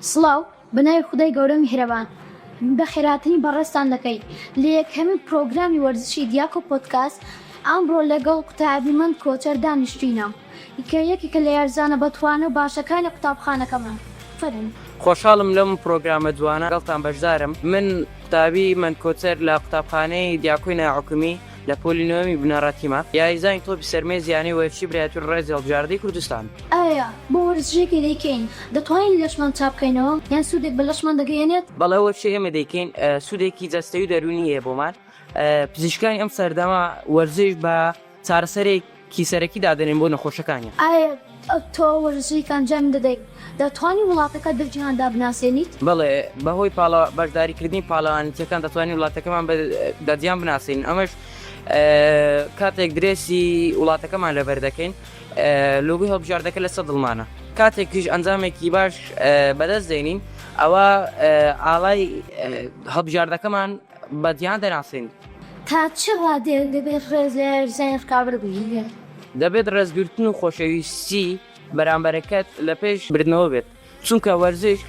سڵاو بەناوی خودای گەورە میهرەبان بەخێراتنی بەڕێزتان دەکەین لە یەکەمین پرۆگرامی وەرزشی دیاکۆ پۆدکاست ئەمڕۆ لەگەڵ قوتابی مەند کۆچەر دانیشتوینە کە یەکێکە لە یارزانە بەتوانا و باشەکانی قوتابخانەکەمان فەرموو. خۆشحاڵم لەم پرۆگرامە جوانە لەگەڵتان بەشدارم من قوتابی مەند کۆچەر لە قوتابخانەی دیاکۆی ناحکومی. لە پۆلی نۆیەمی بنەڕەتیمە یاریزانی تۆپی سەر مێز یانەی وەرزشی برایتۆن ڕێز هەڵبژاردەی کوردستان. ئایا بۆ وەرزشێکی دەیکەین دەتوانین لەشمان چابکەینەوە یان سوودێک بە لەشمان دەگەیەنێت؟ بەڵێ وەرزشی ئێمە دەیکەین سوودێکی جەستەی و دەروونی هەیە بۆمان پزیشکانی ئەم سەردەمە وەرزش بە چارەسەرێک کی سەرەکی دادەنێن بۆ نەخۆشەکانیان. ئایا تۆ وەرزشێک ئەنجام دەدەیت؟ دەتوانی وڵاتەکەت بە جیهاندا بناسێنیت؟ بەڵێ، بەهۆی بەشداریکردنی پاڵەوانێتییەکان دەتوانین وڵاتەکەمان بە جیهان بناسێنین، ئەمەش کاتێک درێسی وڵاتەکەمان لەبەردەکەین، لۆگۆی هەڵبژاردەکە لەسەر دڵمانە. کاتێکیش ئەنجامێکی باش بەدەست دێنین، ئەوا ئاڵای هەڵبژاردەکەمان. بە جیهان دەناسرێن. تا چ ڕادەیەک دەبێت ڕێز لە یاریزانانی ڕکابەر بگیرێت؟ دەبێت ڕێزگرتن و خۆشەویستی بەرامبەرەکەت لە پێش بردنەوە بێت، چونکە وەرزش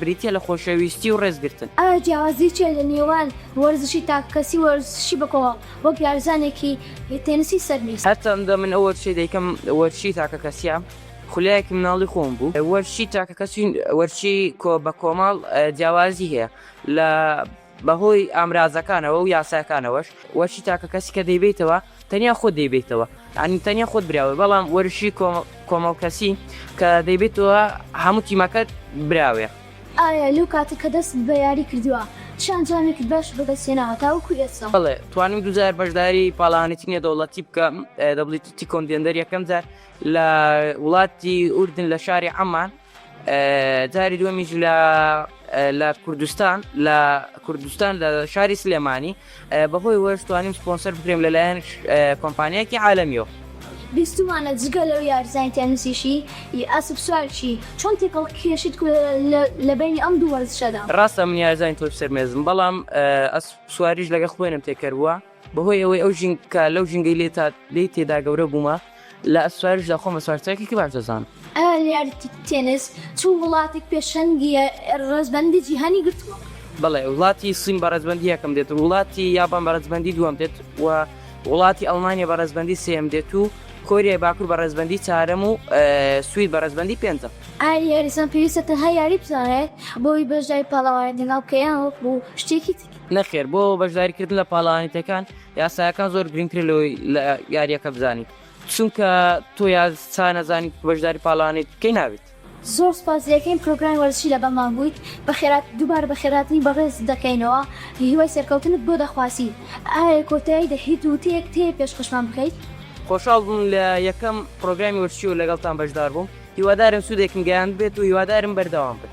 بریتییە لە خۆشەویستی و ڕێزگرتن. ئایا جیاوازی چییە لە نێوان وەرزشی تاککەسی و وەرزشی بەکۆمەڵ، وەک یاریزانێکی تێنسی سەر میز؟ هەرچەندە من ئەو وەرزشەی دەیکەم وەرزشی تاکەکەسییە، خولایەکی منداڵی خۆم بوو. وەرزشی تاکەکەسی و وەرزشی بەکۆمەڵ جیاوازی هەیە لە بەهۆی ئامرازەکانەوە و یاساکانەوەش وەرشی تاکەکەسی کە دەیبەیتەوە تەنیا خۆت دەیبەیتەوە یانی تەنیا خۆت براوەی بەڵام وەرشی کۆمەڵکەسی کە دەیبەیتەوە هەموو تیمەکەت براوەیە. ئایا لەو کاتە کە دەستت بە یاری کردووە چ ئەنجامێکت باش بەدەستهێناوە تاوەکو ئێستا؟ بەڵێ توانیم دوو جار بەشداری پاڵەوانێتی نێودەوڵەتی بکەم، دەبڵی تیتی کۆندێندەر یەکەم جار لە وڵاتی ئوردن لە شاری عەمان، جاری دووەمیش لە لە کوردستان لە کوردستان لە شاری سلێمانی بەهۆی وەشتوانیم سپۆنسەر بکرێم لەلایەن کۆمپانیایکی عالمیەوە بیستمانە جگە لەو یارزانی تەنسیشی ئەسب سوارشی چۆن تێکەڵ کێشت لە بینی ئەم دوو وەرزشەدا ڕاستە من یارزانی تۆپ سەرمێزم بەڵام ئەس سواریش لەگە خوێنم تێکەر بووە بەهۆی ئەوەی ئەو ژینکە لەو ژینگەی لێ تا لێی تێدا گەورە بوومە، لە ئەسپسوارشدا خۆم بە سوارچاکێکی باش دەزانم. ئالیارتی تێنس چ وڵاتێک پێشەنگی ڕەزبەندی جیهانی گرتووە؟ بەڵێ، وڵاتی سین بە ڕەزبەندی یەکەم دێت، وڵاتی یابان بە ڕەزبەندی دووەم دێت و وڵاتی ئەڵمانیا بە ڕەزبەندی سێیەم دێت و کۆریای باکوور بە ڕەزبەندی چوارەم و سوید بە ڕەزبەندی پێنجەم. ئایا یاریزان پێویستە تەنها یاری بزانێت بۆ ئەوەی بەشداری پاڵەوانێتی ناو کەیان وەکو شتێکی نەخێر بۆ بەشداریکردن لە پاڵەوانێتیەکان یاسایەکان زۆر گرنگتر لەوەی لە یاریەکە بزانیت چونکە تۆ یا چا نەزانیت بەشداری پاڵانێت کەی نابێت زۆر سوپاس لەکەین پرۆگرامی وەرزشی لەگەڵ مان بوویت بەخێرات دووبارە بەخێراتنی بەڕێزت دەکەینەوە هیوای سەرکەوتنت بۆ دەخوازین ئایە کۆتایی دە هیت وتەیەکت هەیە پێشکەشمان بکەیت؟ خۆشحاڵ بووم لە یەکەم پرۆگرامی وەرزشی و لەگەڵتان بەشدار بووم هیوادارم سوودێکم گەیاندبێت و هیوادارم بەردەوام بن.